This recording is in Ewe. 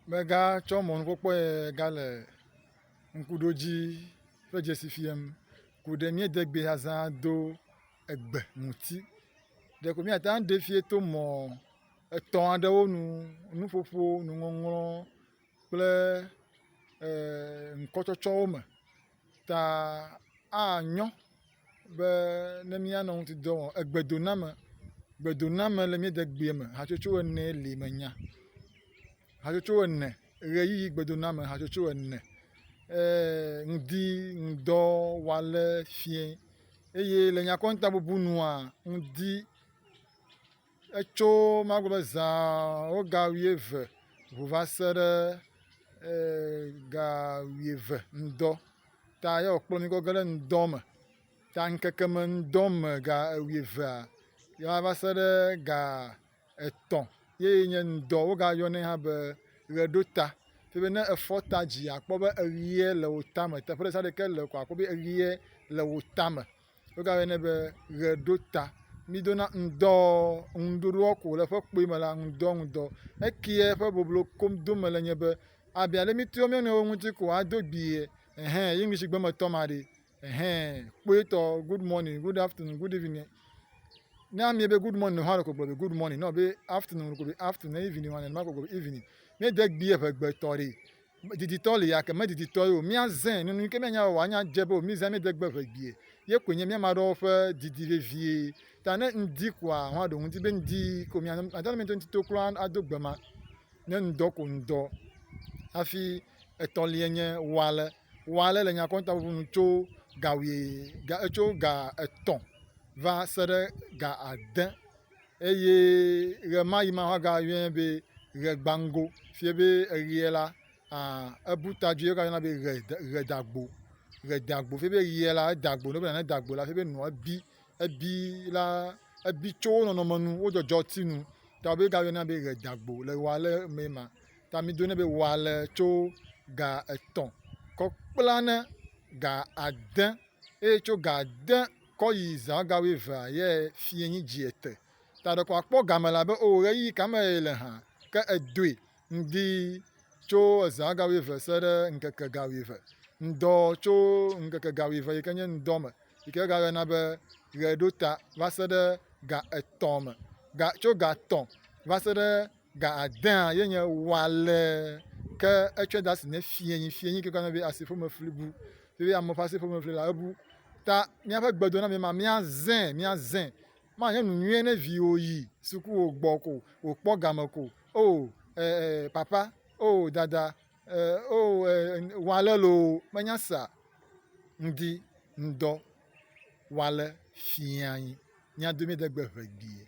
Mega tsɔ mɔnu kpɔkpɔ yɛ ga le ŋkuɖodzi ƒe dzesi fiam. Ko ɖe míade gbe ya zã do egbe ŋuti. Ɖeko míate ŋu aɖee fiae to mɔ etɔ̃ aɖewo nu. Nuƒoƒo, nuŋɔŋlɔ. kple ŋkɔtsɔtsɔwo me ta anyo be ne míanɔ ŋutidɔ wɔm. Egbedoname, gbedoname le mía degbea me hatsotso ene li menya. Hatsotso ene, ʋeyiʋi gbedoname hatsotso ene eer ŋdi, ŋdɔ, ŋwale, fiẽ eye le nyakoŋtabubunua ŋdi. Etso magblɔ be zã woga wuieve ŋu va se ɖe ga wuieve ŋdɔ ta ye wòkplɔ mí kɔ ge ɖe ŋdɔ me. Ta ŋkeke me ŋdɔ me ga wuievea ye wòava va se ɖe ga etɔ̃ ye nye ŋdɔ. Wogayɔnɛ hã be ʋeɖota. Toɖo be ne efɔ ta dzia akpɔ be eʋee le wò tame. Teƒe ɖe sia ɖe yi ke le ko akpɔ be eʋee le wò tame. Wogayɔnɛ be ʋeɖota. Mídona ŋdɔ ŋɖuɖuɔ ku le ƒe kpui me la ŋdɔ ŋdɔ. Ekiɛ ƒe boblo kom dom mele nye be abia ɖe míteɔ mía nɔewo ŋuti ko ado gbiɛ ɛhɛ English gbe me tɔ ma ɖe ɛhɛ kpoetɔ good morning, good afternoon, good evening. Ne amie be good morning hã ko gblɔ be good morning nɔ be afternoon ko be afternoon ne evening hã nenema ko gblɔ be evening. Míede gbiɛ ŋegbe tɔ ɖe. diditɔ li yake mediditɔ ye o. Míazẽ nunu yi ke míanya wɔ anya dze be womizã míede gbe ʋegbie. Ye koe nye mía ame aɖewo ƒe didi vevie. Ta ne ŋdi koa, hɔ̃ aɖo ŋuti be ŋdi ko mia nɔ mate ŋu ŋuti to kura ado gbe ma. Ne ŋdɔ ko ŋdɔ. Hafi etɔ̃lia nye wale. Wale le nyakɔnta ŋuŋu nu tso ga wuie ga etso ga etɔ̃ va se ɖe ga ade. Eye ɣemaɣi ma woagayɔe be ɣegbaŋgo, fie be eɣeɛ la, a ebu ta dzoe wogayɔna be ɣe ɣedagbo, ɣedagbo fie be ɣeɛ la eda gbo. Ne wogblɔ be nane da gbo la fie be nua bi, ebi la ebi tso wo nɔnɔme nu, wo dzɔdzɔti nu ta be wogayɔnɛ be ɣedagbo le ɣealɛ mee ma. Ta mi dɔnɛ be ɣealɛ tso ga etɔ̃ kɔ kpla ne ga ade eye tso ga ade. kɔ yi zã ga wuievea ye fie nyi dzi ete ta ɖeko akpɔ game la be oo ɣeyiɣi ka me ye le hã ke edoe ŋdi tso ezã ga wuieve se ɖe ŋkeke ga wuieve ŋdɔ tso ŋkeke ga wuieve yi ke nye ŋdɔ me yi ke ga yɔna be ɣe ɖo ta va se ɖe ga etɔ̃ me ga tso ga tɔ̃ va se ɖe Ga adea ye nye wale ke etsɔe de asi ne fiẽnyi, fiẽnyi ke gblɔna be asiƒomefli bu. Eye ame ƒe asiƒomefli la ebu. Ta míaƒe gbedoname ma míazẽ, míazẽ. Manye nu nyui ne viwò yi suku wò gbɔ ko wòkpɔ game ko o e e papa o dada e o e wale loo menya sea? Ŋdi ŋdɔ wale fiẽnyi. Mía domee de gbe ʋegbee.